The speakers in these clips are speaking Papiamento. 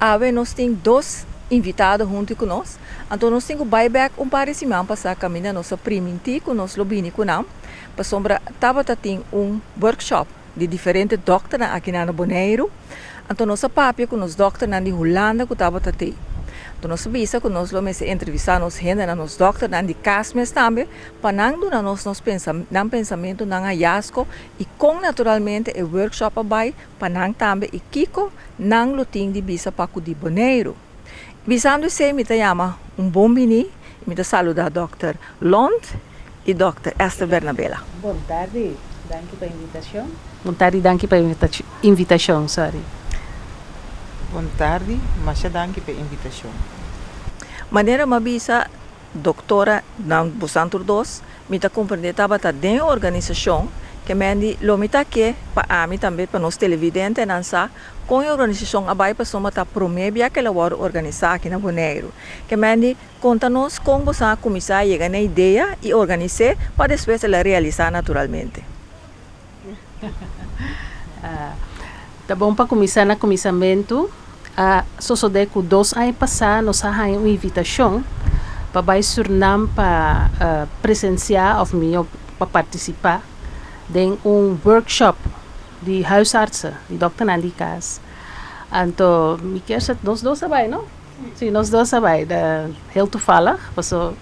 Awe nos tin dos invitado hunti ku nos, anto nos tin ku bai bèk un par di siman pa sa kaminda nos a primintí ku nos lo bini ku nan, pasobra tabata tin un workshop di diferente dòkternan akinan na Boneiru, anto nos a papia ku nos dòkternan di Hulanda ku tabata tei. Anto nos a bisa ku nos lo mester entrevistá nos hendenan, nos dòkternan di kas mes tambe, pa nan duna nos nos nan pensamentu, nan hayasko i kon naturalmente e workshop a bai, Pa nan tambe y kiko nan lo tin di bisa pa cu di Boneiru. Bisando esey mi ta yama un bon bini y mi ta saluda Dokter Lond y Dokter Esther Bernabela. Bon tardi, danki pa invitacion. Bon tardi, danki pa invitacion, sorry. Bon tardi, masha danki pa invitacion. Manera ma bisa. Doktora, Nan busantur dos, mi ta komprendé tabata den e organisashon, kemendi lo mi ta ke pa ami tambe pa nos televidentenan sa kon e organisashon a bai pasobra ta promé bia ke el a wòrdu organisá aki na Boneiru. Kemendi konta nos kon bosan a kuminsá a yega n'e idea i organis'é pa despues el a realisá naturalmente. Ta bon pa kuminsá na kuminsamentu. A sosodé ku dos aña pasá nos a haña un invitashon pa bai Sürnam pa presensiá òf mihó pa partisipá den un workshòp di huisartsen, di dòkternan di kas. Anto mi kèr sa nos dos ta bai, no? Sí, nos dos a bai, ta heel toevallig, paso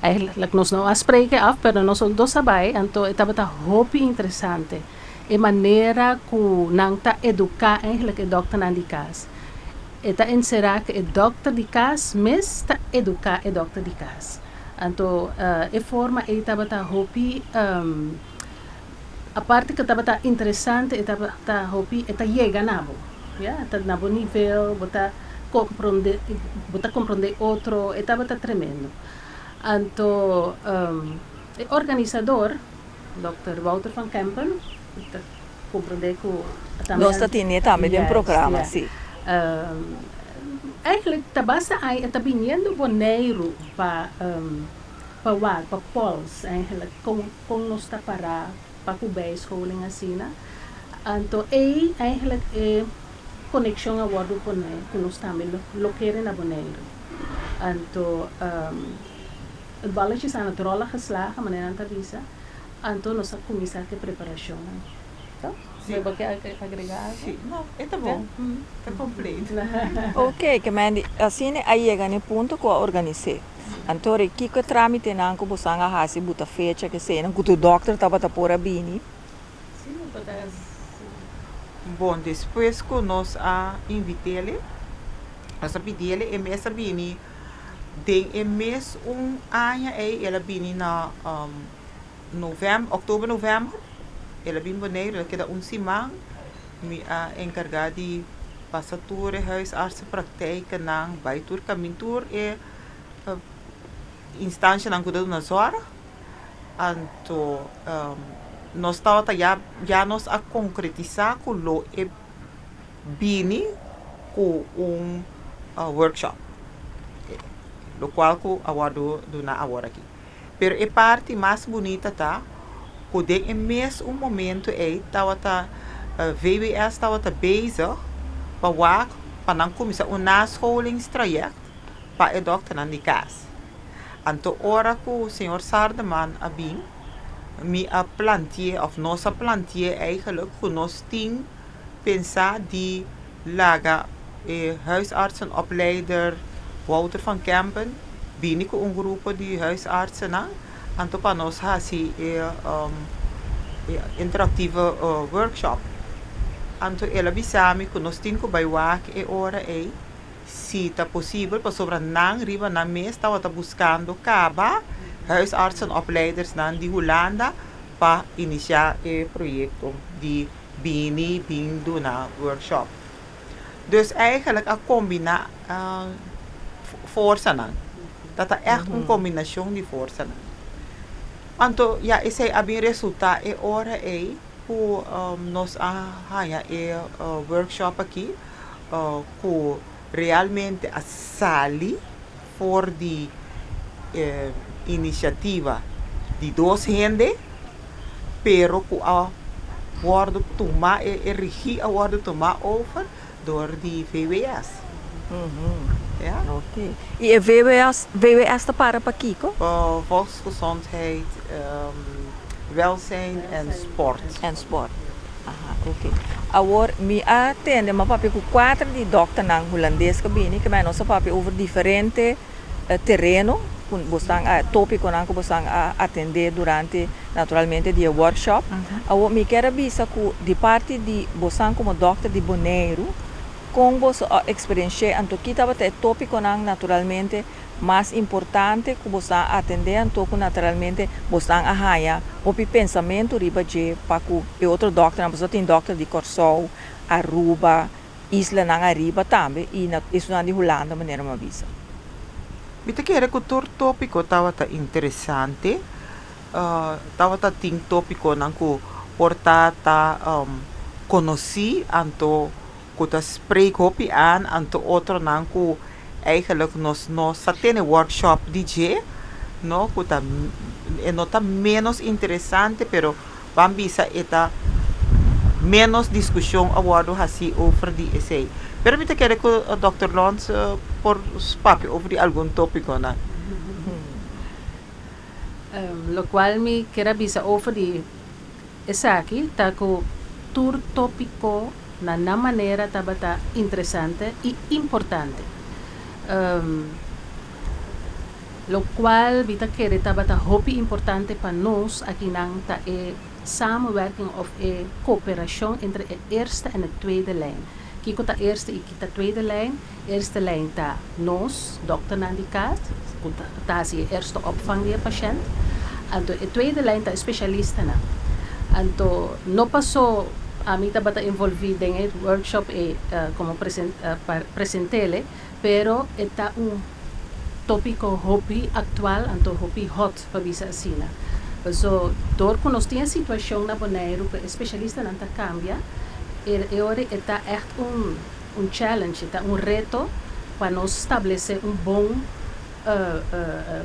eigenlijk nos no a spreke af, pero nos un dos a bai, anto e tabata hopi interesante, e manera ku nan ta eduká eigenlijk e dòkternan di kas. E ta enserá ku e dòkter di kas mes ta eduká e dòkter di kas. Anto e forma ei tabata hopi. Aparte ke tabata interesante e tabata hopi e ta yega na bo ya ta na bo nivel bo ta kompronde bo ta kompronde otro e tabata tremendo anto e organisador dòkter Wouter van Kempen ku ta kompronde ku a tambe nos ta tine tambe den programa si eigenlijk ta basta ai e ta biniendo Boneiru pa pa wak pa Pòls eigenlijk kon. Kon nos ta pará pa ku bijscholing asina? Anto ei eigenlijk e konekshon a wòrdu pon'é ku nos tambe lo kere na Boneiru. Anto el bòlletjes a na dròl a geslagen, manera nan ta bisa, anto nos a kuminsá ku e preparashonnan. To? Bo bo ke agregá algu? Sí, no, e ta bon. Ta kompleto. Oke, ke men di asina a yega n'e punto ku a organis'é. Anto riba kiko e tramitenan ku boso a hasi bo ta fecha ku eseinan ku tur dokter tabata por a bini? Si no ta ta asina. Bon, despues ku nos a invit'el'e, nos a pidi'el'e e mes a bini, den e mes un aña ei el a bini na novèmber, october, november, el a bini Boneiru, el a keda un siman. Mi a encarga di pasa tur e huisartsen praktijkennan bay tur camin tur e instancianan cu ta duna zorg anto nos tawata ya ya nos a concretisa cu lo e bini cu un workshop locual cu a wordo duna aworaky. Pero e parti mas bunita ta ku den e mes un momentu ei tawata VWS tawata bezig pa wak pa nan kuminsá un nascholingstraject pa e dòkternan di kas. Anto ora ku señor Sardeman a bin mi a plantié òf nos a plantié eigelijk ku nos tin Pensá di laga e huisartsenopleider Wouter van Kempen bini ku un grupo di huisartsennan, anto pa nos hasi e e interaktivo workshop. Anto el a bisa mi ku nos tin ku bai wak e ora ei, si ta posibel, pasobra nan riba nan mes tabata buskando kaba huisartsenopleidersnan di Hulanda pa inisiá e proyekto di bini bin duna workshop. Dus eigenlijk a combina forsanan. Dat ta echt un combinacion di forsanan. Anto ya esey a bin resulta e ora ey cu nos a haya e workshop aki cu realmente a sali. For di e iniciativa di dos hende, pero cu a wordo tuma, e rigi a wordo tuma over door di VWS. Oké. Y e VWS ta para pa kico? Gezondheid, welzijn en sport. En sport. Aha, ok. Awor, mi a tende mi a papia cu cuater di dokternan Hulandes cu a bini, kibai nos a papia over diferente tereno cu bo stan a, topiconan cu bo stan a atende durante, naturalmente, di e workshop. Awor, mi kier a bisa cu di parti di bo stan como dokter di Boneiru, con boso a experienci'e anto ki tabata e topiconan, naturalmente, Mas importante ku bo sa atendé anto ku naturalmente bo san a haña hopi pensamentu riba dje pa ku e otro dòkternan, pasobra tin dòkter di Kòrsou, Aruba, islanan ariba tambe i na esunan di Hulanda manera mi a bisa. Mi ta kere ku tur tópiko tabata interesante. Tabata tin tópikonan ku por ta ta konosí anto. ku ta spreek hopi aan anto otronan ku eigenlijk nos no sa tene workshop di dje no ku ta e no ta menos interesante pero ban bisa e ta menos diskushon a wòrdu hasi over di esei pero mi ta kere ku dòkter Lons por papia over di algun topikonan. Lokual mi kier a bisa over di. Esaki ta ku tur tópiko na nan manera tabata interesante i importante. Lokual mi ta kere tabata hopi importante pa nos akinan ta e samenwerking òf e koperashon entre e eerste en e tweede lijn. Kiko ta eerste i ki ta tweede lijn? Eerste lijn ta nos dokternan di kas ku ta hasi e eerste opvang di e pashènt. Anto e tweede lijn ta e spesialistanan. Anto no pasó ami tabata envolví den e workshop ei komo presentele, pero e ta un tópiko hopi aktual, anto hopi hot pa bisa asina. Paso dor ku nos tin e situashon na Boneiru ku e spesialistanan ta kambia, e ora ei ta ègt un. Un challenge ta un reto pa nos stablece un bon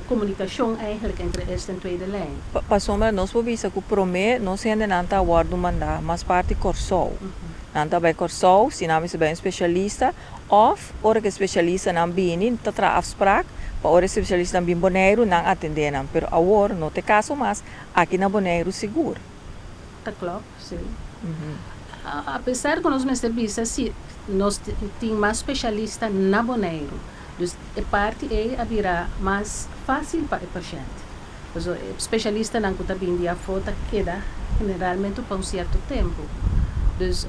comunicacion eigenlijk entre eerste en tweede lijn. Pasobra nos por bisa cu prome nos hendenan ta wordo manda mas parti Corsou. Nan ta bay Corsou si nan mester bay un specialista of ora ki specialistanan bini ta traha afsprak pa ora e specialistanan bin Boneiru nan atendenan. Pero awor no ta e caso mas, aki na Boneiru sigur. Ta clop. Sí. A pesar cu nos mester bisa si nos tin mas specialista na Boneiru, dus e parti ey a bira mas facil pa e pashente. Pasobra e specialistanan cu ta bin di afo ta keda generalmente pa un cierto tempo. Dus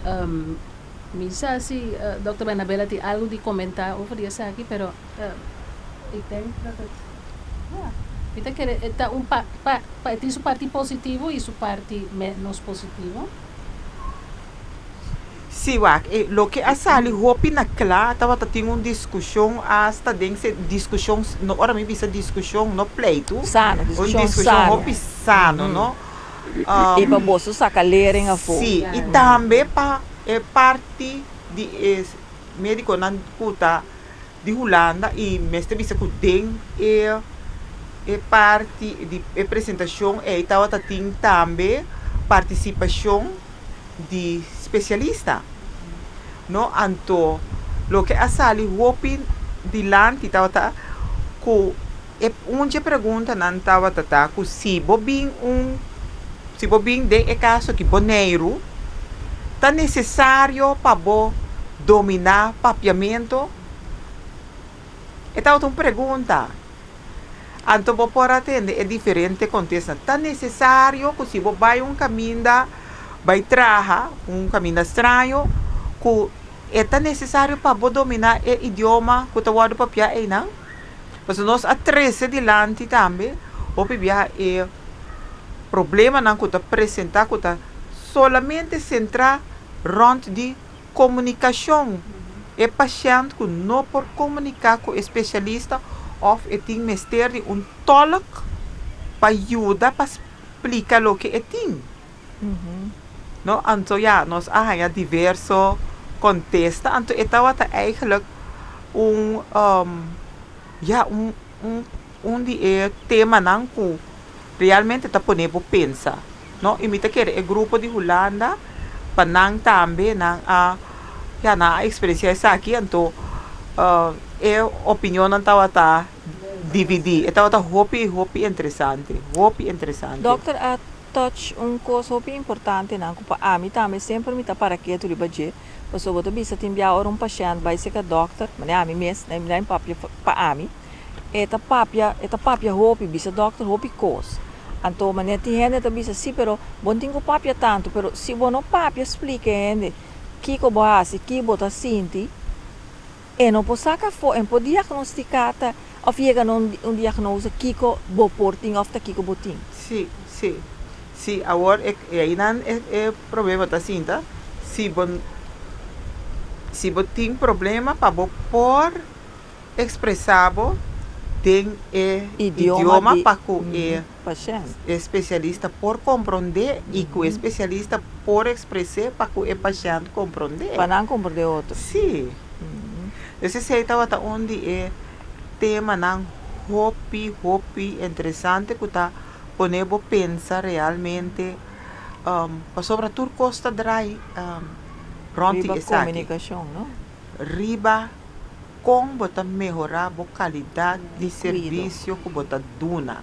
mi sa si Dokter Bernabela tin algo di comenta over di esaki, pero. Ik denk dat het, ja, mi ta kere e ta un pa, pa, pa, e tin su parti positivo i su parti ménos positivo. Sí, wak e, loke a sali hopi na kla tabata tin un diskushon asta den se diskushon, no ora mi bisa diskushon, no pleitu, Sano, un diskushon diskushon sano. hopi sano, no? I pa boso saka lering afó. Sí, i tambe pa e parti di e médikonan ku ta di Hulanda i mester bisa ku den e e parti di e presentashon ei tabata tin tambe partisipashon di spesialista. No anto loke a sali hopi dilanti tabata ku. E un dje preguntanan tabata ta ku si bo bin un si bo bin den e kas aki Boneiru ta nesesario pa bo dominá papiamentu? E tabata un pregunta. Anto bo por a tende e diferente kontesta. Ta nesesario ku si bo bai un kaminda bai traha, un kaminda straño, ku e ta nesesario pa bo dominá e idioma ku ta wòrdu papiá einan? Pasobra nos a trese dilanti tambe hopi biaha e problemanan ku ta presentá ku ta solamente sentrá rònt di komunikashon. E pashènt ku no por komuniká ku e spesialista òf e tin mester di un tòlk pa yuda pa splika loke e tin. No, anto ya nos a haña diverso contesta, anto e tawata eigenlijk un ya un un un di e temanan cu realmente ta pone bo pensa, no, y mi ta kere e grupo di Hulanda pa nan tambe nan a ya nan a experencia esaki anto e opinionnan tawata dividi, e tawata hopi hopi interesante, hopi interesante. Toch un cos hopi importante nan cu pa ami tambe semper mi ta para ketu riba dje, pasobra bo ta bisa tin bia ora un pashent bai seca dokter, manera ami mes, na na papia pa ami, e ta papia, e ta papia hopi, bisa dokter hopi cos. Anto manera tin hende ta bisa, si pero bo no tin cu papia tanto, pero si bo no papia splica e hende kico bo hasi, ki bo ta sinti, E no por saca afo, e no por diagnostica ta of yega na un diagnose kico bo por tin of ta kico bo tin. Si, si. Si, awor e ainan e problema ta sinta, si bo si bo tin problema pa bo por expresa bo den e idioma pa cu e. pashènt. E spesialista por komprondé i ku e spesialista por ekspres'é pa ku e pashènt komprond'é. Pa nan komprondé otro. Sí. Pues esei tabata un di e temanan hopi, hopi interesante ku ta pone bo pensa realmente pasobra tur kos ta drai rònt di esaki. Riba komunikashon, no? riba kon bo ta mehorá bo kalidat di servisio ku bo ta duna,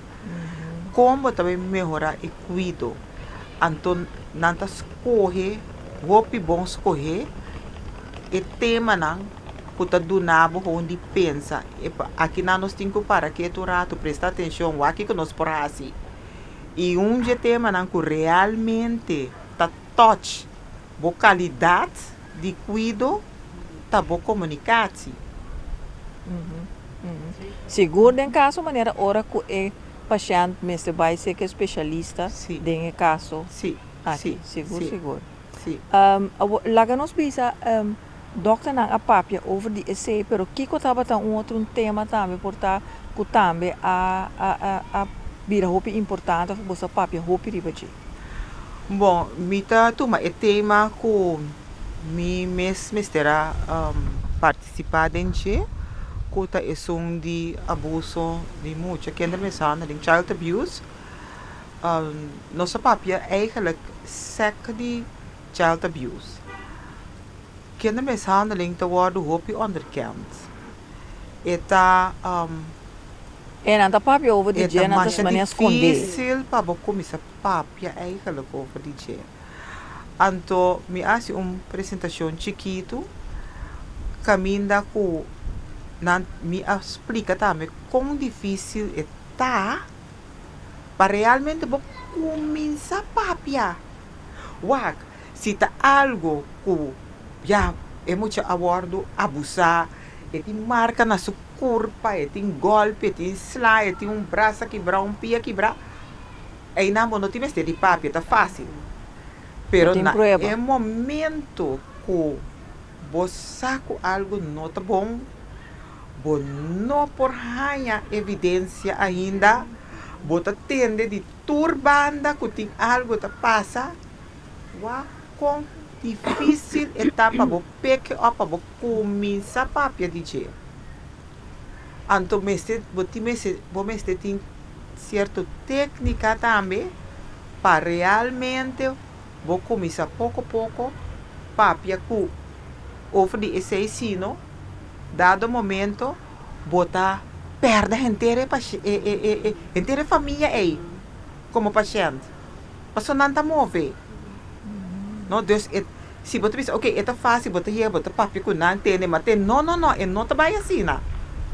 kon bo ta bai mehorá e kuido. Anto nan ta skohe, hopi bon skohe, e temanan ku ta duna bo hou di pensa. E pa akinan nos tin ku para ketu un ratu, presta atenshon, wak ku nos por hasi i unghe temanan ku realmente ta touch bo kalidat. Di cuido ta bo comunicatie. Sigur den caso manera ora cu e pashent mester bay seker specialista den e caso aki. Sigur sigur. Awor laga nos bisa dokternan a papia over di esey pero kico tabata un otro un tema tambe por ta cu tambe a bira hopi importante of boso a papia hopi riba dje? Bon, mi ta tuma e tema ku mi mes mester a partisipá den dje, ku ta esun di abuso di mucha, kindermishandel en child abuse. Nos a papia eigenlik sèk di child abuse. Kende mishandeling ta wòrdu hopi ònderkend. E ta. E nan ta papia over di dje, nan ta siña manera skond'é. E ta masha difísil pa bo kuminsá papia eigelik over di dje. Anto mi a hasi un presentashon chikitu kaminda ku nan mi a splika tambe kon difísil e ta pa realmente bo kuminsá papia. Wak. Si ta algo ku ya e mucha a wòrdu abusá, e tin marka na su kurpa, e tin gòlpi, e tin slá, e tin un bras a kibrá, un pia kibrá, einan bo no tin mester di papia, ta fásil. Pero na e momentu ku bo sa ku algu no ta bon, bo no por haña evidensia ainda, bo ta tende di tur banda ku tin algu ta pasa, Wak kon difísil e ta pa bo peke òf pa bo kuminsá papia di dje. Anto mester bo tin mester bo mester tin sierto téknika tambe pa realmente bo kuminsá poko poko papia ku over di esei sino dado momento bo ta pèrdè henter e e e henter e famia ei komo pashènt. Paso nan ta move. No dus e si bo ta bisa ok e ta fácil bo ta yega bo ta papia ku nan tende ma te no no no e no ta bai asina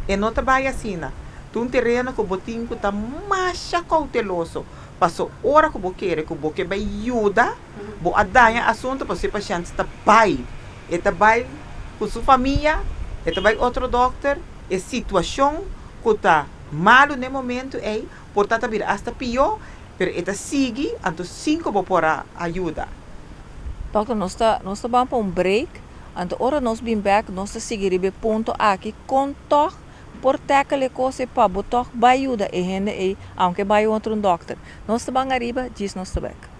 e no ta bai asina ta un tereno ku bo tin ku ta masha kouteloso paso ora ku bo kere ku bo ke bai yuda bo a daña asuntu paso e pashènt ta bai e ta bai ku su famia e ta bai otro dòkter e situashon ku ta malu na e momentu ei. Por ta ta bira asta pió, pero e ta sigui, anto sin ku bo por a a yuda. Dokter, nos ta nos ta ban pa un break, anto ora nos bin bèk nos ta sigui riba e punto aki, kon tòg por tèkel e kos ei pa bo tòg bai yuda e hende ei, aunke e bai otro un dokter. Nos ta ban ariba, djis nos ta bèk.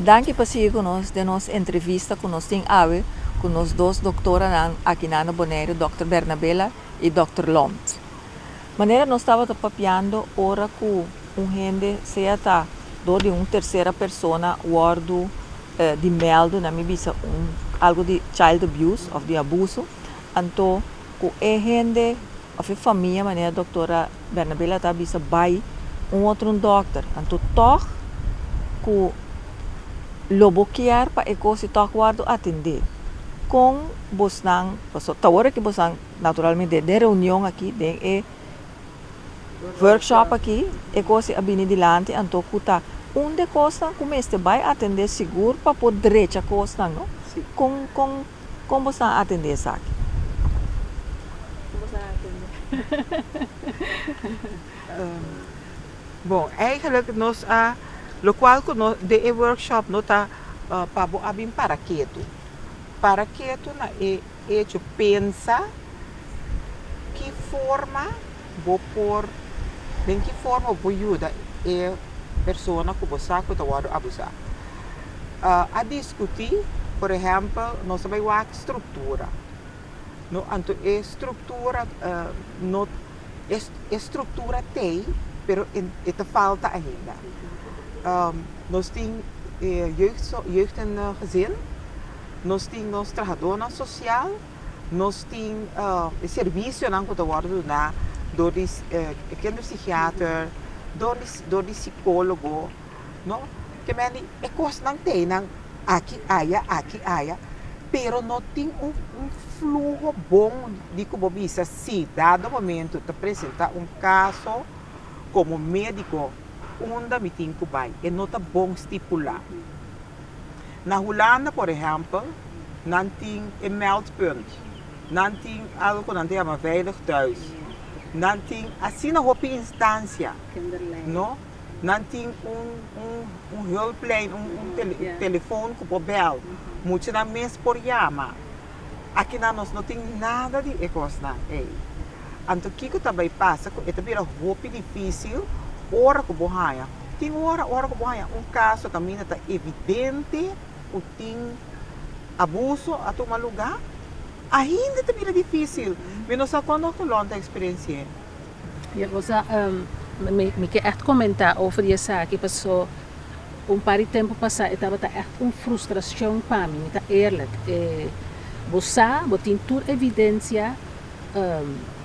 Danki pa sigui cu nos den nos entrevista cu nos tin awe cu nos dos doctoranan aki na Bonaire Doctor Bernabela y Doctor Loomt. Manera nos tabata papiando ora cu un hende, sea ta door di un tercera persona, wordo di melde na mi bisa un algo di child abuse of di abuso, anto cu e hende of e famia manera doctora Bernabela a ta bisa bay un otro dokter, anto tog cu lo bo kier pa e cos y tog wordo atende, con bosnan pasobra ta wordo cu bosnan. Naturalmente den reunion aki, den e workshop aki, e cosnan a bini dilanti anto cu ta un de cosnan cu mester bay atende sigur pa por drecha cosnan, no? Con, con, con bo stan atende esaki? Con bo stan atende? Bon, eigenlijk nos a, locual cu nos, den e workshop no ta pa bo a bin para ketu, para ketu na e. Echo pensa ki forma bo por den ki forma bo por yuda e persona ku bo sa ku ta wòrdu abusá. A diskutí, por ehèmpel, nos ta bai wak struktura, no anto e struktura no e struktura t'ei pero e ta falta ainda. Nos tin e jeugd, jeugd en gezin, Nos tin nos trahadónan sosial, nos tin e servisionan ku ta wòrdu duná dor di e kinderpsigiater, dor di dor di sikólogo, no. Kemendi e kosnan t'ei nan aki aya, aki aya, pero no tin un un fluho bon di ku bo bisa si dado momento ta presentá un kaso komo médiko unda mi tin ku bai. E no ta bon stipulá. Na Hulanda, por ehèmpel, nan tin e Meldpunt. Nan tin algu ku nan ta yama Veilig Thuis. Nan tin asina hopi instansia. No. Nan tin un, un, un hulplijn, un, un tele, telefòn ku por bèl. Muchanan mes por yama. Akinan nos no tin nada di e kosnan ei. Anto kiko ta bai pasa ku e ta bira hopi difísil ora ku bo haña? Tin ora, ora ku bo haña un kaso kaminda ta evidente ku tin abuso a tuma lugá, ainda ta bira difísil. Mi no sa kon doktor Lon ta eksperensi'é. Dia cosa mi ke echt comenta over di esaki paso un par di tempo pasa e tabata echt un frustracion pa mi, mi ta eerlijk. Bo sa, bo tin tur evidencia,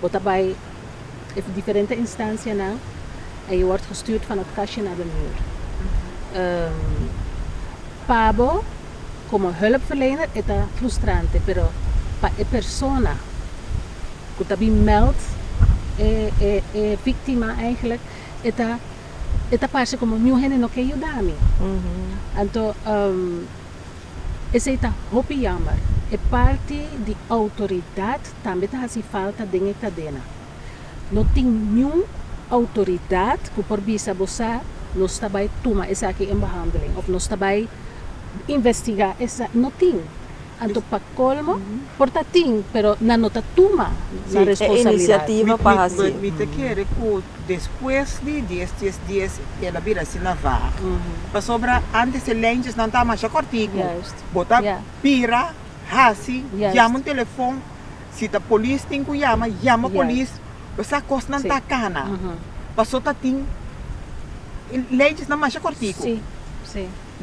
bo ta bay e diferente instancianan en je word gestuurd van het kastje naar de muur. Pa bo como hulpverlener e ta frustrante pero pa e persona. ku ta bin meld e víktima eigenlijk e ta e ta parse komo niun hende no ke yuda mi anto esei ta hopi yamber e parti di outoridat tambe ta hasi falta den e kadena no tin niun outoridat ku por bisa bo sa nos ta bai tuma esaki en behandeling of nos ta bai investigá esa no tin. Anto pa colmo por ta tin pero nan no ta tuma nan responsabilidad. Mi ta kere cu despues di dies dies dies el a bira asina vaag pasobra antes e lijntjes nan ta masha cortico bo ta bira haci yama un telefon si ta polis tin cu yama yama polis bo sa cos nan ta cana paso ta tin e lijntjes nan masha cortico.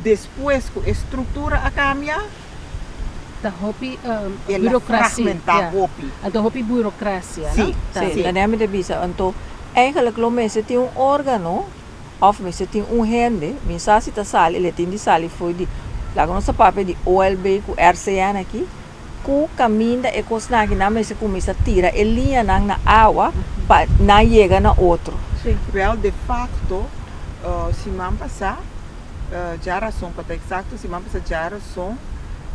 Despues ku e struktura a kambia, Ta hopi burokrasia, a ta hopi burokrasia, no? Si, si. Manera mi ta bisa, anto eigenlik lo mester tin un órgano òf mester tin un hende, mi sa si ta sali, el a tin di sali fo'i di, laga nos ta papia di OLB ku RCN aki. Ku kaminda e kosnan aki nan mester kuminsá tira e liñanan na awa pa nan yega na otro. Sí. Wèl, de fakto, siman pasá dja rason, pa ta eksakto siman pasá dja rason,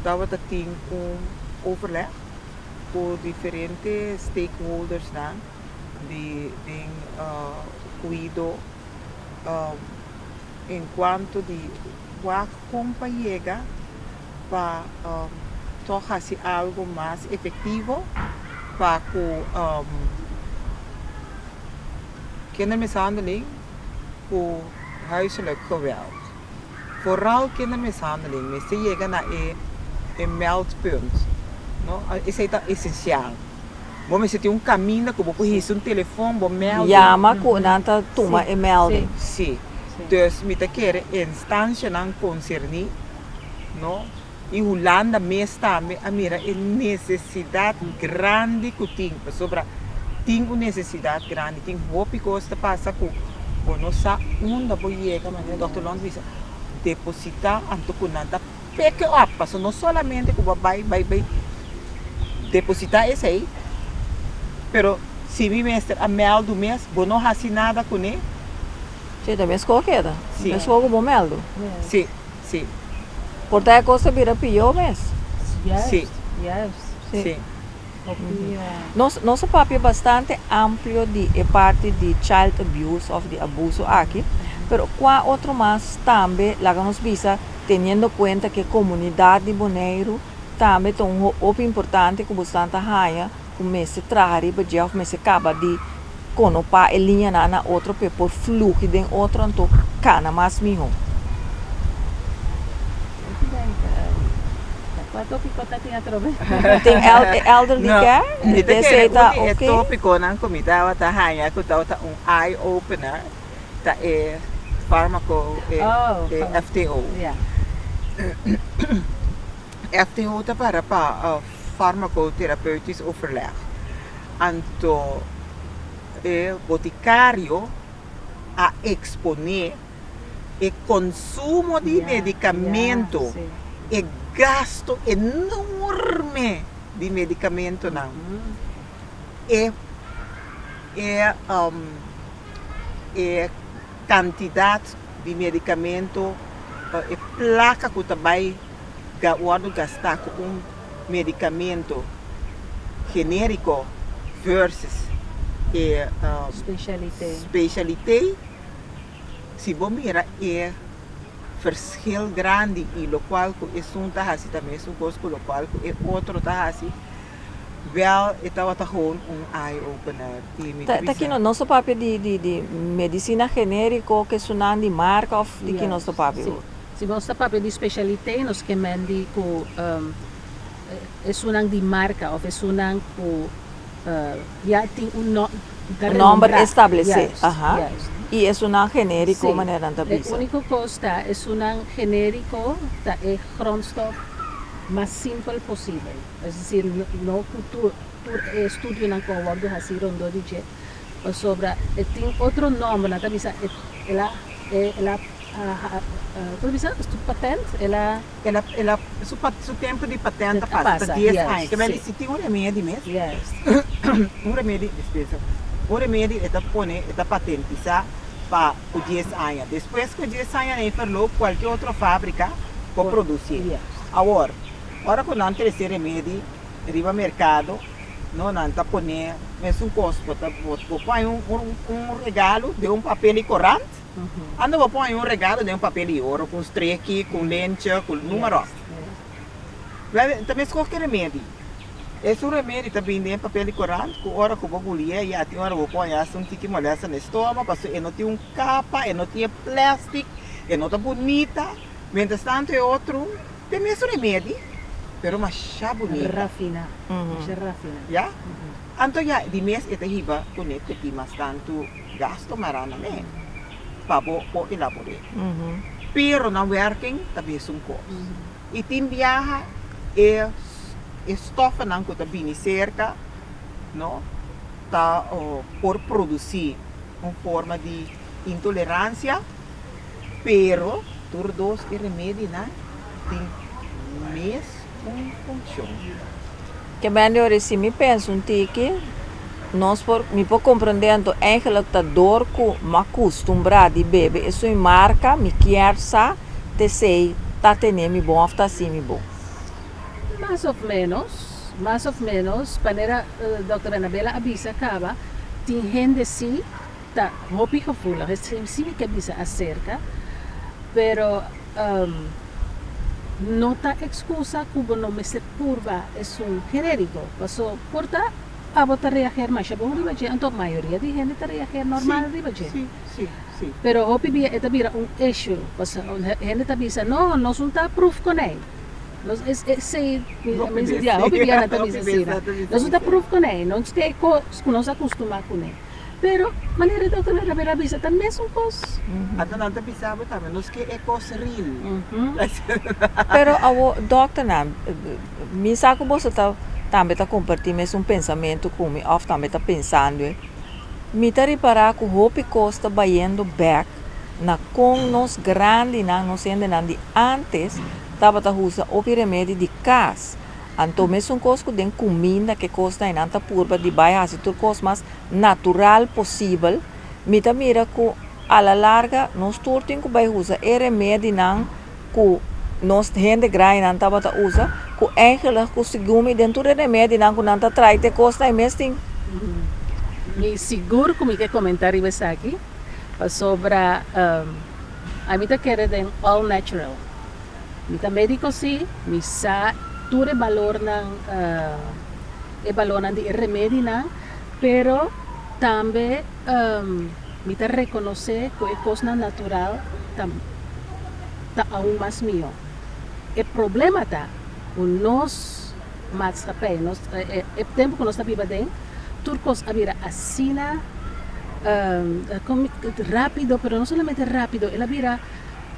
tabata tin un overleg ku diferente stakeholdersnan di den Cuido enkuanto di Wak kon pa yega pa tok hasi algu mas efektivo pa ku kindermishandeling ku huiselijk geweld. Vooral kindermishandeling mester yega na e meldpunt. Esei ta esensial. Bo mester tin un caminda cu bo por hisa un telefon bo melding. Yama cu nan ta tuma e melding. Si. Dus mi ta kere e instancianan concerni, no, y Hulanda mes tambe a mira e necesidad grandi cu tin, pasobra tin un necesidad grandi. Tin hopi cos ta pasa cu bo no sa unda bo yega, manera Dokter Lons bisa, deposita anto cu nan ta. Peke op, pasobra no solamente ku bo bai bai bai depositá esei, pero si mi mester a mèldu mes, bo no hasi nada kuné. Si, ta meskó keda. Si. Meskó ku bo mèldu. Si, si. Por ta e kos ta bira pió mes. Si. Si. Si. Nos a papia bastante amplio di e parti di child abuse of di abuso aki, pero cua otro mas tambe laga nos bisa teniendo cuenta cu e comunidad di Boneiru tambe ta un hopi importante cu bosnan ta haya cu mester traha riba dje of mester caba di Con no pa e liña nan na otro p'e por fluhi den otro anto cana mas miho. Tin elderly care? Mi ta kere uni e topiconan cu mi tabata haya cu tabata un eye opener ta e farmaco e FTO. FTO ta para pa farmacotherapeutisch overleg, anto e boticario a expone e consumo di medicamento, e gasto enorme di medicamentonan, e Kantidat di medikamento o e plaka ku ta bai wòrdu gastá ku un medikamento genériko vèrsus e speshalité. Si bo mira e ferskil grandi i lokual ku esun ta hasi ta mesun kos ku lokual ku e otro ta hasi. Wèl, e tabata gewoon un eye-opener i mi Ta bisa. kino nos ta papia di di di medisina genériko, kesunan di marka òf di ki nos ta papia bo? Si, si nos ta papia di speshalité nos ke men di ku esunnan di marka òf esunnan ku ya tin un nò, ta renombrá. Un nòmber establesé, aha. Juist, juist. I esunnan genériko si, manera nan ta bisa? E úniko kos ta esunnan genériko ta e grondstof mas simpel posibel. Es decir, no cu tur tur e studionan cu a wordo haci rondó di dje, pasobra e tin otro nomber, nan ta bisa e el a e el a como ta bisa? Su patent el a. El a el a su pat su tempo di patent a pasa ta dies aña, yes, cabal si si tin un remedi mes, yes, un remedi dispensa, un remedi e ta pone e ta patentisa pa cu dies aña, despues cu e dies aña na e perlo cualkier otro fabrica por produci, yes, awor. Ora cu nan trece remedi riba mercado no nan ta pone mesun cos bo ta bo pon un regalo den un papel y corant anto bo pon un regalo den un papel y oro con streki con lencha con numero ta mes cos ki remedi esun remedi ta bini den papel y corant cu ora cu bo bulie ya tin ora cu bo pon ya sun tiki molesta na estomago pasobra e no tin un capa e no tin e plastic e no ta bunita. Mientras tanto e otro den mes remedi pero masha bunita. Rafina. Masha rafina. Ya? Anto ya di mes e ta hiba cu ne cuti mas tanto gasto marana ne pa bo por elabor'e. Pero nan werking ta mesun cos. Y tin biaha e e stofanan cu ta bini cerca no ta por produci un forma di intolerancia. Pero tur dos e remedinan tin mes un funshon. Ke bende ora si mi pensa un tiki, nos por, mi por komprondé anto Angela ta dor ku mi a kustumbrá di bebe esei marka mi kier sa t'esei ta tene mi bon òf ta hasi mi bon. Mas òf ménos, mas òf ménos, manera Dòkter Anabela a bisa kaba, tin hende si. Ta hopi gevoelig e slim simi ke bisa aserka, pero no ta ekskusa ku bo no mester purba esun kerer di bo, paso por ta pa bo ta reager masha bon riba dje, anto mayoria di hende ta reager normal riba dje. Pero hopi bia e ta bira un issue, paso hende ta bisa no, nos no ta proef konei, nos esei hopi bia nan ta bisa asina, nos no ta proef konei, nos ke kos ku nos a kustumá kuné. Pero, manera Dòkter Naravera a bisa, ta mes un kos. Anto nan ta bisa bo tambe, nos ke e kos ril. Pero awo, dòkternan, mi sa ku boso ta tambe ta kompartí mes un pensamentu ku mi òf tambe ta pensando e. Mi ta ripará ku hopi kos ta bayendo bèk na kon nos grandinan, nos hendenan di ántes tabata usa hopi remedi di kas. Anto mesun kos ku den kuminda ke kosnan enan ta purba di bai hasi tur kos mas natural posibel, mi ta mira ku a la larga nos tur tin ku bai usa e remedinan ku nos hende grainan tabata usa, ku eingelig ku segun mi den tur e remedinan ku nan ta trai te kosnan e mes tin. Mi sigur ku mi ke komentá riba esaki pasobra ami ta kere den all natural. Mi ta medico si, mi sa tur e balornan e balornan di e remedinan, pero tambe mi ta reconoce cu e cosnan natural ta ta aun mas miho. E problema ta cu nos maatschappij nos e tempo cu nos ta biba den tur cos a bira asina rapido pero no solamente rapido el a bira.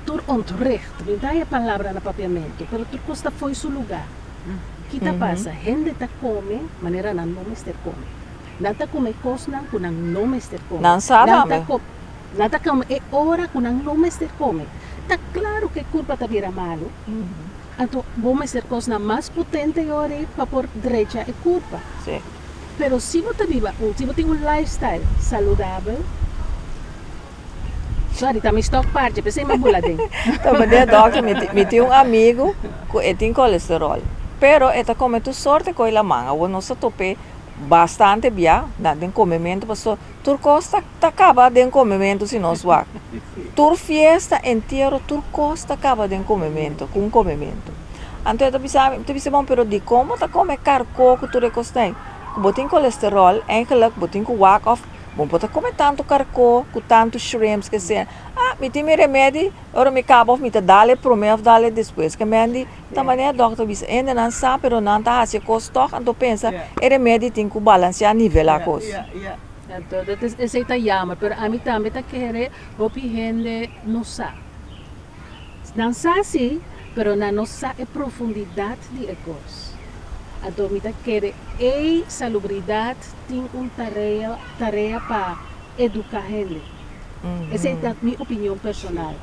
Tur ontwricht, mi da e palabra na papiamentu, pero tur kos ta fo'i su lugá. Ki ta pasa? Hende ta kome manera nan no mester kome. Nan ta kume kosnan ku nan no mester kome. Nan ta ko, nan ta kome e ora ku nan no mester kome. Ta klaru ku e kurpa ta bira malu. Anto bo mester kosnan mas potente yori pa por drecha e kurpa. Pero si bo ta biba un, si bo tin un lifestyle saludabel, Sorry, ta mi stock parche, p'esei mi a bula den. Tabatin e dòkter, mi tin, mi tin un amigu ku e tin kolesteròl, pero e ta kome tur sort e koi laman. Awor nos a top'é bastante bia na den komementu, pasobra tur kos ta, ta kaba den komementu si nos wak. Tur fiesta, entiero, tur kos ta kaba den komementu, ku un komementu. Anto e ta bisa mi, mi ta bisa, bon, pero dikon bo ta kome karko ku tur e kosnan? Ku bo tin kolesteròl, eingelik bo tin ku wak òf. Bo por ta come tanto carcó cu tanto shrimps que sea ah mi tin mi remedi ora mi caba of mi ta dale prome of dale despues que mendi ta manera doctor a bisa ende nan sa pero nan ta haci e cos tog anto pensa e remedi tin cu balancea nivel acos. Entonces esey ta jammer pero ami tambe ta kere hopi hende no sa. Nan sa si, pero nan no sa e profundidat di e kos. Anto mi ta kere ei salubridat tin un tarea tarea pa eduká hende. Esei ta mi opinion personal.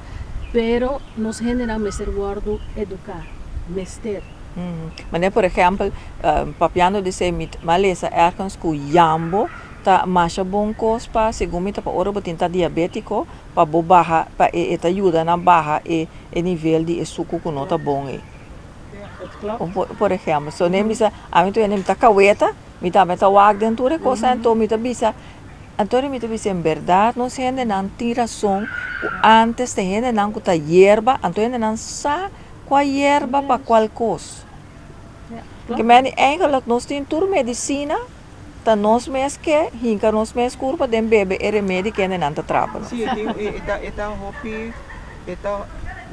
Pero nos hendenan mester wòrdu eduká. Mester. Manera por ehèmpel, papiando di esei mi a lesa èrkens ku yambo ta masha bon kos pa, segun mi ta pa ora bo tin ta diabétiko. pa bo baha pa e e ta yuda nan baha e e nivel di e suku ku no ta bon ei. Un po por ehèmpel so ne bisa ami tu hende mi ta kaweta mi tambe ta wak den tur e kosa anto mi ta bisa anto mi ta bisa en bèrdat nos hendenan tin rason ku antes ta hendenan ku ta yerba anto hendenan sa kua yerba pa kual kos. Porque men di eingelik nos tin tur medisina. Ta nos mes ke hinka nos mes kurpa den bebe e remedi kende nan ta trapa nos. Sí, tin e e ta e ta hopi e ta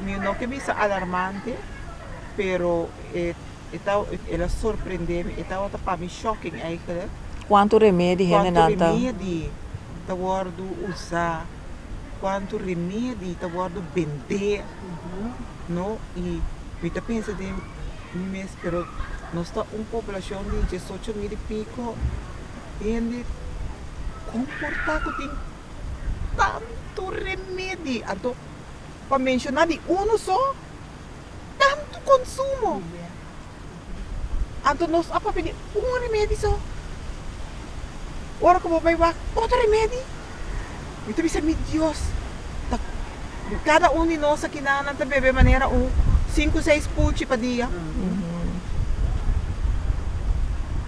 mi no ke bisa alarmante, pero e e ta el a sorprende mi, e tabata pa mi shocking eigenlijk, Kuantu remedi hende nan ta. kuantu remedi ta wòrdu usá, kuantu remedi ta wòrdu bendé, no, i mi ta pensa den. Mi mes, pero nos ta un poblacion di diesocho mil y pico hende, con por ta cu tin tanto remedi, anto pa menciona di uno so, tanto consumo, anto nos a papia di un remedi so, ora cu bo bay wak otro remedi. Mi ta bisa, Mi Dios, ta kada un di nos akinan nan ta bebe manera un sinku seis puchi pa dia?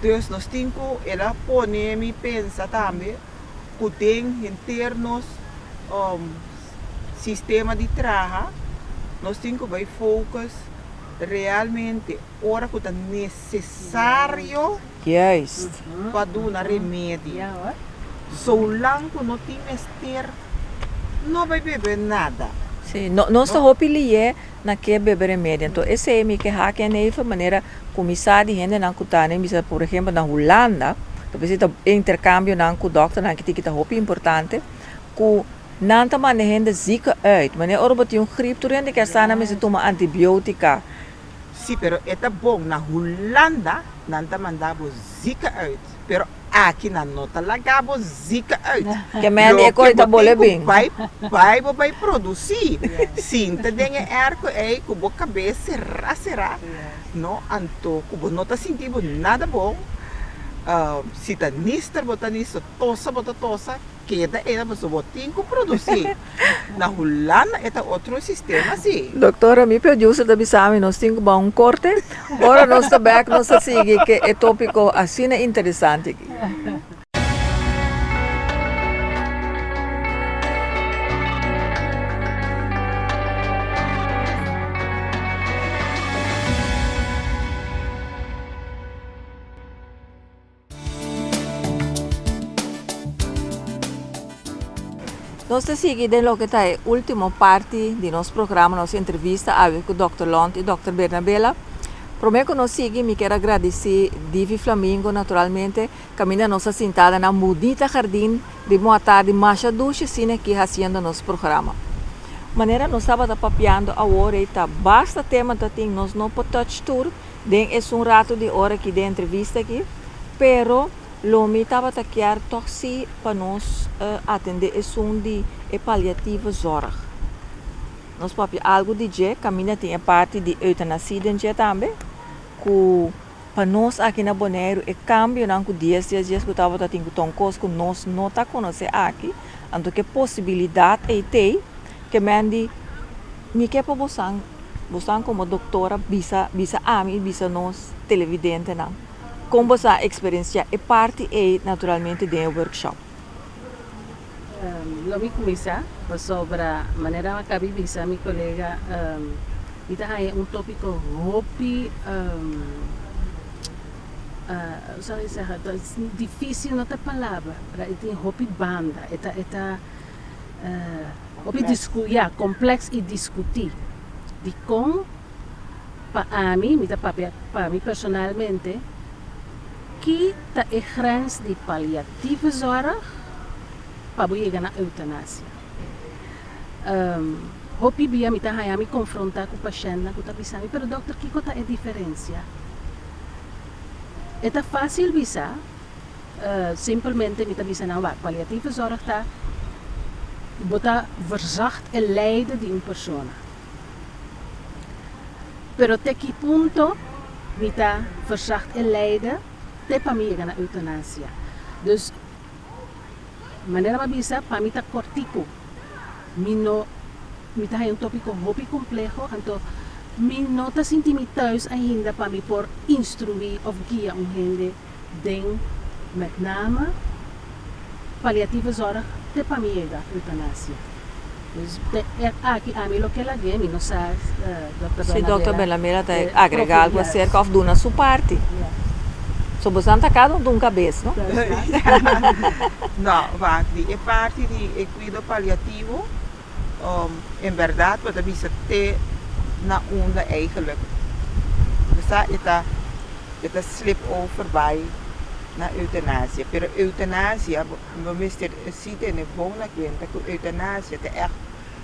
Pues nos tin ku, el a pone mi pensa tambe ku den henter nos sistema di traha nos tin ku bai focus realmente. Ora ku ta nesesario. Juist. Pa duna remedio. Soulang ku no tin mester, no bai bebe nada. Sí, nos ta hopi liye na ke bebe remedio. Anto esei mi ke haki eneifer manera ku mi sa di hendenan ku ta nen bisa por ehempel na Hulanda, ta bisita interkambionan ku dòkternan aki tiki ta hopi importante, ku nan ta manda hende ziekenhuid. Manera ora bo tin un griep tur hende ke a sana mester tuma antibiotica. Si pero e ta bon na Hulanda nan ta manda bo zika uit pero aki nan no ta laga bo zika uit loke bo tin ku bai bai bo bai produsi sinta den e erko ei ku bo kabes sera sera no anto ku bo no ta sinti bo nada bon si ta nister bo ta nister tosa bo ta tosa. Keda era pasobra bo tin cu produci. Na Hulanda e ta otro sistema si. Doctora, mi producer ta bisami nos tin cu baha un corte. Ora nos ta back nos ta sigui cu e topico asina interesante aki. Nos ta sigui den loke ta e ultimo parti di nos programa, nos entrevista awe ku Dòkter Lont i Dòkter Bernabela. Promé ku nos sigui mi kier a gradisí Divi Flamingo naturalmente kaminda nos a sinta den nan bunita hardin ritmo atardi masha dushi sina aki hasiendo nos programa. Manera nos tabata papiando awo rei ta basta tema ta tin nos no por touch tur Den esun ratu di ora aki den entrevista aki, pero lo mi tabata kier tog si pa nos atende esun di e paliative zorg. Nos papia algu di dje, caminda tin e parti di euthanasie den dje tambe, cu pa nos aki na Boneiru e cambionan cu dies dies dies cu tabata tin cu ta un cos cu nos no ta conoce aki, anto cu e posibilidad ei t'ei, Kemen di, Mi ke pa bosan, bosan komo doktora bisa bisa ami i bisa nos televidentenan kon bo sa eksperensiá e parti ei naturalmente den e workshop. Lo mi kuminsá pasobra manera a Kabi bisa mi kolega mi ta haña un tópiko hopi ousao e sègè ta difísil no ta palabra i tin hopi banda e ta e ta. Hopi diskuyá, komplèks i diskutí dikon pa ami, mi ta papia pa mi personalmente, ki ta e grens di paliatieve zòrg pa bo yega na eutanasia. Hopi bia mi ta haña mi konfrontá ku pashèntnan ku ta bisa mi, pero dòkter, kiko ta e diferensia? E ta fásil bisa Simpelmente mi ta bisa nan wak, paliatieve zorg ta bo ta verzacht e lijden di un persona. Pero te ki punto mi ta verzacht e lijden te pa mi yega na eutanasia? Dus manera m'a bisa pa mi ta cortico, mi no mi ta haya un topico hopi compleho anto mi no ta sinti mi thuis ainda pa mi por instrui of guia un hende den met name paliative zorg te pa mi yega eutanasia. Dus te e aki ami lo ke lag'é, mi no sa Dòkter Bernabela. Si Dòkter Bernabela ta agrega algu aserka òf duna su parti. So bosan ta kada un dunka bes, no? No, wak, di e parti di e kuido paliativo en berdad bo ta bisa te na unda eigenlijk bo sa e ta e ta slip over bai na eutanasia pero eutanasia bo mester si tene bon na kuenta ku eutanasia ta ègt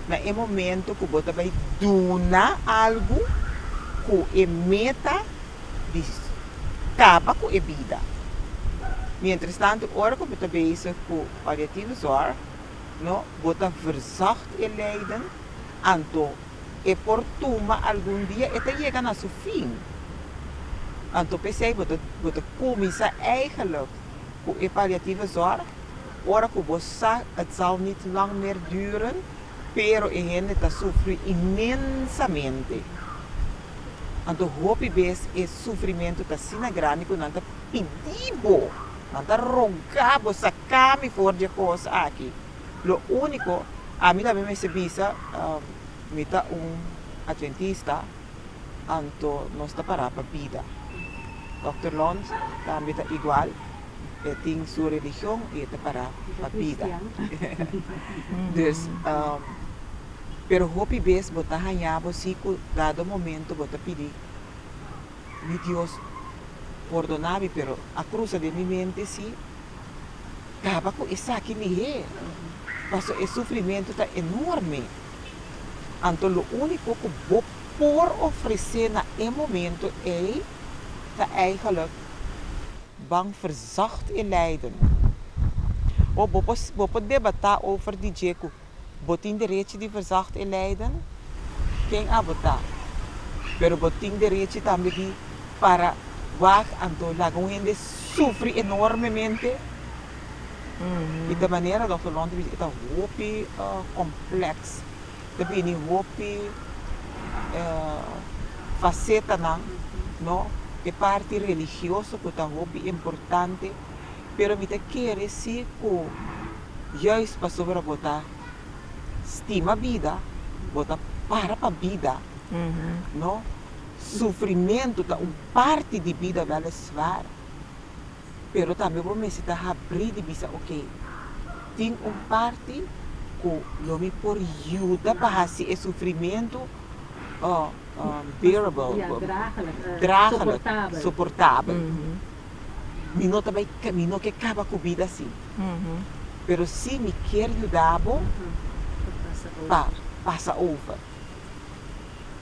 na e momento ku bo ta bai duna algu ku e meta di kaba ku e bida mientras tanto ora ku bo ta bezig ku palliativo zorg. No, bo ta verzocht e lijden, anto e por tuma algun dia e ta yega na su fin. Anto p'esei bo ta bo ta kuminsá eigenlijk ku e paliatieve zòrg ora ku bo sa het zal niet lang meer duren, pero e hende ta sufri inmensamente. Anto hopi bes e sufrimentu ta asina grandi ku nan ta pidi bo, nan ta rogá bo sa Ka mi for dje kos aki. Lo úniko, ami tambe mester bisa, mi ta un Adventista, anto nos ta pará pa bida. Dòkter Lons tambe ta igual, e tin su religion i e ta pará pa bida. Dus, pero hopi bes bo ta hañá bo si ku dado momento bo ta pidi. mi Dios pordona mi pero a cruza den mi mente si caba cu esaki lihé pasobra e sufrimento ta enorme. Anto lo unico cu bo por ofrece na e momento ey ta eigenlijk ban verzacht e lijden. Of bo por debata over di dje cu Bo tin derechi di verzocht e leiden ken a bo ta, pero bo tin derechi tambe di para wak anto laga un hende sufri enormemente y ta manera Dokter Lon ta bishi e ta hopi complex ta bini hopi facetanan no e parti religioso cu ta hopi importante pero mi ta kere si cu Juis pasobra bo ta stima bida, bo ta para pa bida. No, sufrimentu ta un parti di bida, wel es waar, pero tambe bo mester ta habri di bisa ok, tin un parti ku lo mi por yuda pa hasi e sufrimentu bearable, dragelijk, soportabel. Mi no ta bai camino ke caba cu bida asi, pero si mi kier yuda bo pa pasa over.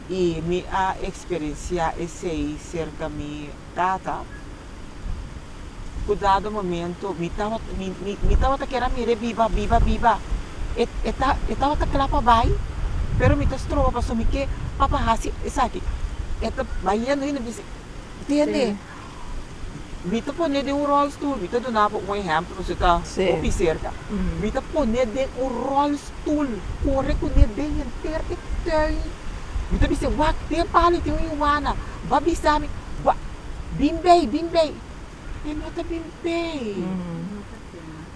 Y mi a experiencia esey cerca mi tata, cu dado momento mi mi tawata kier a mira e biba, biba, biba, e ta e tawata cla pa bai, pero mi ta stroba pasobra mi ke papa hasi esaki, e ta bai yendo, yendo, mi ta bisa, tende. Mi ta pone den un rolstoel, mi ta duna bo un ehemplo su ta hopi cerca. Mi ta pone den un rolstoel, corre cu ne den henter e tuin. Mi ta bis'e, wak, ten palo y ten un iwana, ba bisa mi, wak, bin bay, bin bay. E no ta bin bay.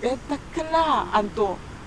E ta cla. Anto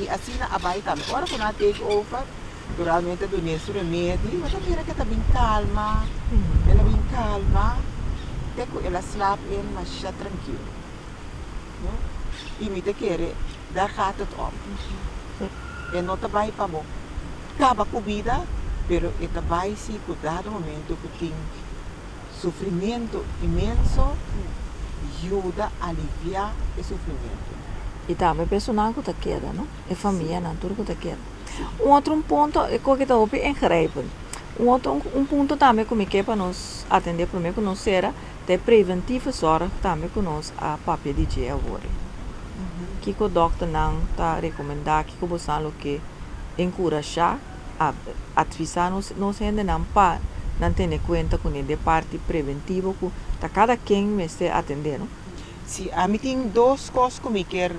Y asina a bay tambe. Ora cu nan a take over, naturalmente Doña su remedi, bo ta mira cu e ta bin calma, el a bin calma, te cu el a slaap in masha trankilo. No? Y mi ta kere, daar gaat het om. E no ta bay pa bo caba cu bida, pero e ta bay si cu dado momento cu tin. Sufrimentu inmenso yuda aliviá e sufrimentunan. I tambe e personanan ku ta keda, no? E famianan, tur ku ta keda. Un otro un punto e koke ta hopi ingrijpend. Un otro un punto tambe ku mi ke pa nos atendé promé ku nos sera ta e preventieve zorg tambe ku nos a papia di dje awor-e. Kiko dòkternan ta rekomendá, kiko bo sa loke enkurashá. a advisa nos nos hendenan pa nan tene cuenta cu nede parti preventivo cu ta cada ken mester atende no. Si ami tin dos cos cu mi kier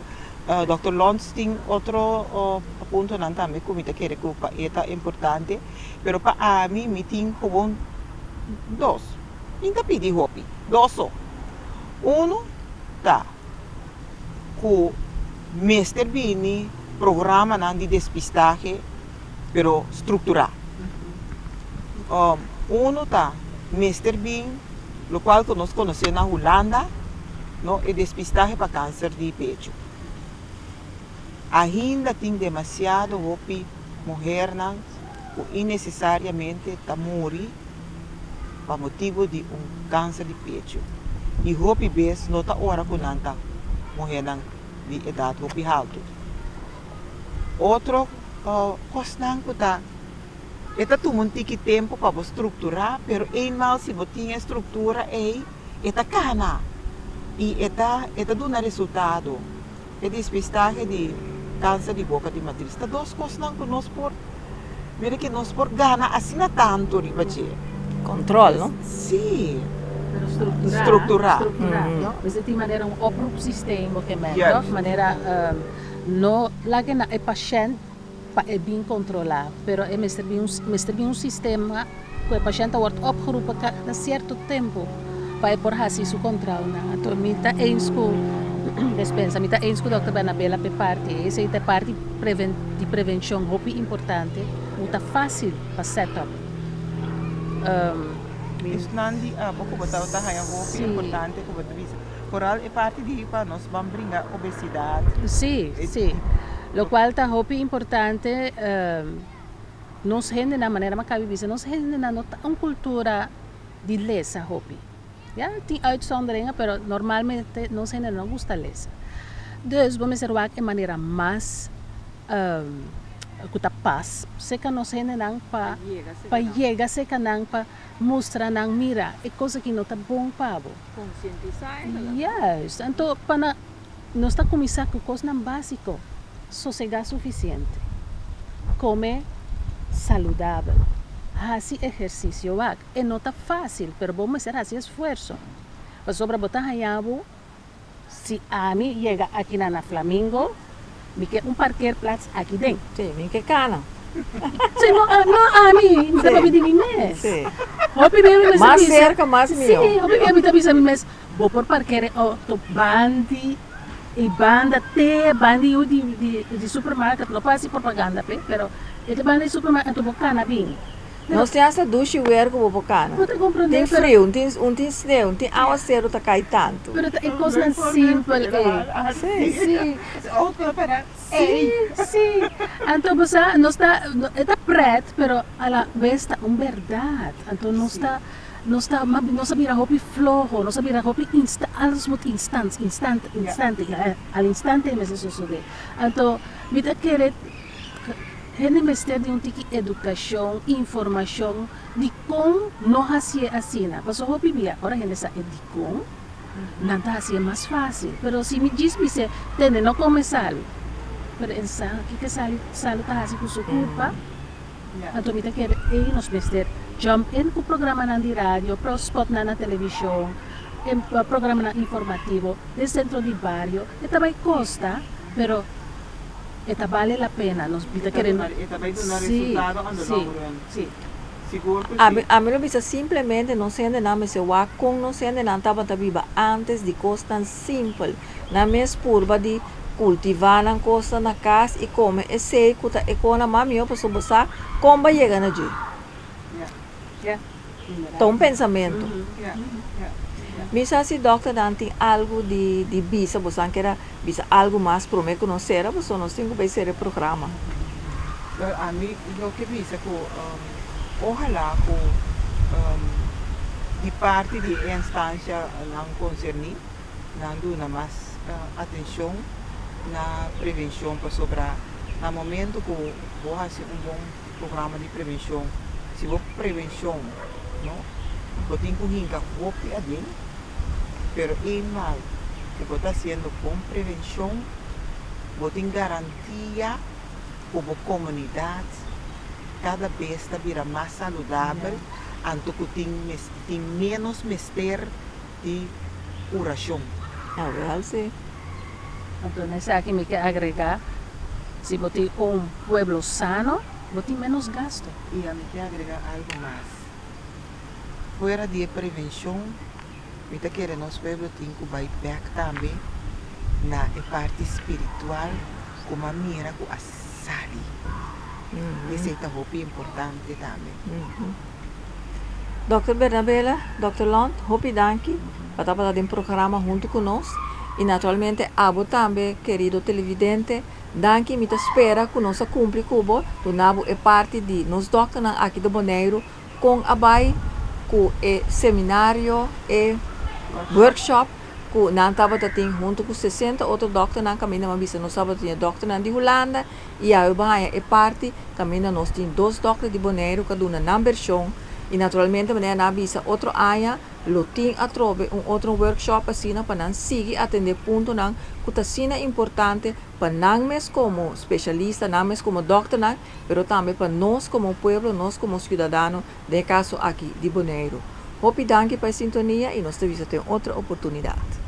Doctor Lons tin otro puntonan tambe cu mi ta kere cu pa e ta importante pero pa ami mi tin gewoon dos mi ta pidi hopi dos so uno ta. ku mester bini programanan di despistahe pero strukturá. Unu ta mester bin lo kual ku nos konos'é na Hulanda, no e despistahe pa kanser di pechu. Ainda tin demasiado hopi muhernan. ku inesesariamente ta muri pa motibu di un kanser di pechu i hopi bes no ta ora ku nan ta muhénan di edat hopi haltu. Otro kosnan ku ta E ta tuma un tiki tempu pa bo strukturá, pero einmal si bo tin e struktura ei, e ta kana i e ta duna resultado. E despistahe di kanser di boka di matris ta dos kosnan ku nos por mira ke nos por gana asina tantu riba dje. Kontrol, no? Sí. Pero strukturá. Strukturá. Strukturá. No? Mester tin manera un oproepsisteem bo ke mèt, tòg? Manera no laga e pashènt. pa e bin kontrolá, pero e mester bin un mester bin un sistema ku e pashènt a wòrd opgeroepe kada sierto tempu pa e por hasi su kontròunan. Anto mi ta eenz ku despensa, mi ta eenz ku dòkter Bernabé a lape parti ei. Esei ta e parti preven di prevenshon hopi importante ku ta fásil pa sèt òp. Esnan di abo ku bo tabata haña hopi importante ku bo ta bisa. Vooral e parti di pa nos ban bringa obesidad. Sí, sí. Locual ta hopi importante, nos hendenan, manera Maccabi bisa, nos hendenan no ta un cultura di lesa hopi. Ya, tin uitzonderingen, pero normalmente nos hendenan no gusta lesa. Dus bo mester wak e manera mas cu ta pas cerca nos hendenan pa yega cerca nan. mustra nan mira e cosa ki no ta bon pa bo. Conscientisa e ta la. Juist. Anto pa na nos ta cuminsa cu cosnan basico, sosega suficiente, come saludabel, haci ehercicio wak. E no ta facil pero bo mester haci esfuerzo pasobra bo ta haya bo. Si ami yega akinan na Flamingo, mi ke un parkeerplaats aki den. Sí, mi ke kana. Sí, no, no ami, mi ta papia di mi mes. Sí. Hopi bia mi mes ta bisa. Mas serka, mas mihó. Sí, hopi bia mi ta bisa mi mes, bo por parkeer e outo bandi e banda te bandi yu di supermarket, no pa hasi propaganda p'e, pero e te banda di supermarket, anto bo kana bini. Nos tin asta dushi weer ku bo por kana. Tin friu, un tin sneu, un tin awaseru ta kai tantu. Pero ta e kosnan simpel ei. Sí. Sí. Sí, sí. Anto bo sa, nos ta, e ta pret, pero a la bes ta un bèrdat. Anto nos ta, nos ta, mas nos a bira hopi floho, nos a bira hopi insta, alles moet instant, instant, instante, al instante mes e sosodé. Anto mi ta kere. Hende mester di un tiki edukashon, informashon di kon no hasié asina. Paso hopi bia ora hende sa e dikon, nan ta hasié mas fásil. Pero si mi djis bis'é, Tene, no kome salu. Pero e saha kiko e salu ta hasi ku su kurpa. Anto mi ta kere ei nos mester jump in ku programanan di radio, spotnan na televishon, programanan informativo den sentro di bario. E ta bai kosta, pero. E ta bale la pena. Nos bi ta kere no. E ta bai duna resultado on the long run. Sí, sí. Sigur ku sí. Ami lo bisa simplemente nos hendenan mester wak kon nos hendenan tabata biba antes di kosnan simpel. Nan mes purba di kultivá nan kosnan na kas i kome esei ku ta e kona mas mihó pasobra bo sa kon bo a yega na dje. Ta un pensamentu. Mi sa si dòkternan tin algu di di bisa, boso a keda bisa algu mas promé ku nos sera boso, nos tin ku bai sera e programa. Ami lo ke bisa ku ohalá ku di parti di e enstansianan konserní nan duna mas atenshon na prevenshon pasobra na momentu ku bo hasi un bon. Programa di prevenshon, si bo prevenshon no bo tin ku hinka hopi aden pero e mal ku bo ta hasiendo kon prevenshon bo tin garantia ku bo komunidat kada bes ta bira mas saludabel anto ku tin tin menos mester. di urashon. A realse. Anto na esaki mi ke agregá, si bo tin un pueblo sano, bo tin ménos gasto. I a mi ke agregá algu mas. Fuera di e prevenshon, mi ta kere nos pueblo tin ku bai bèk tambe na e parti spiritual, kuma mira ku a. sali. Y esey ta hopi importante tambe. Dokter Bernabela, Dokter Lont, hopi danki pa ta bata den programa huntu ku nos. Y naturalmente abo tambe kerido televidente, danki. Mi ta spera ku nos a kumpli ku bo, duna bo e parti di nos dokternan aki den Boneiru. Con a bay cu e seminario, e workshop cu nan tabata tin hunto cu sesenta otro dokternan caminda nan bisa nos tabata tin e dokternan di Hulanda y awe bo haya e parti caminda nos tin dos dokter di Boneiru ca duna nan bersion y naturalmente manera nan a bisa otro aña lo tin atrobe un otro workshop asina pa nan sigui atende puntonan cu ta asina importante pa nan mes como specialista nan mes como dokternan. pero tambe pa nos komo pueblo, nos komo siudadano den e kaso aki di Boneiru. Hopi danki pa e sintonia i nos ta bisa ta e otro oportunidat.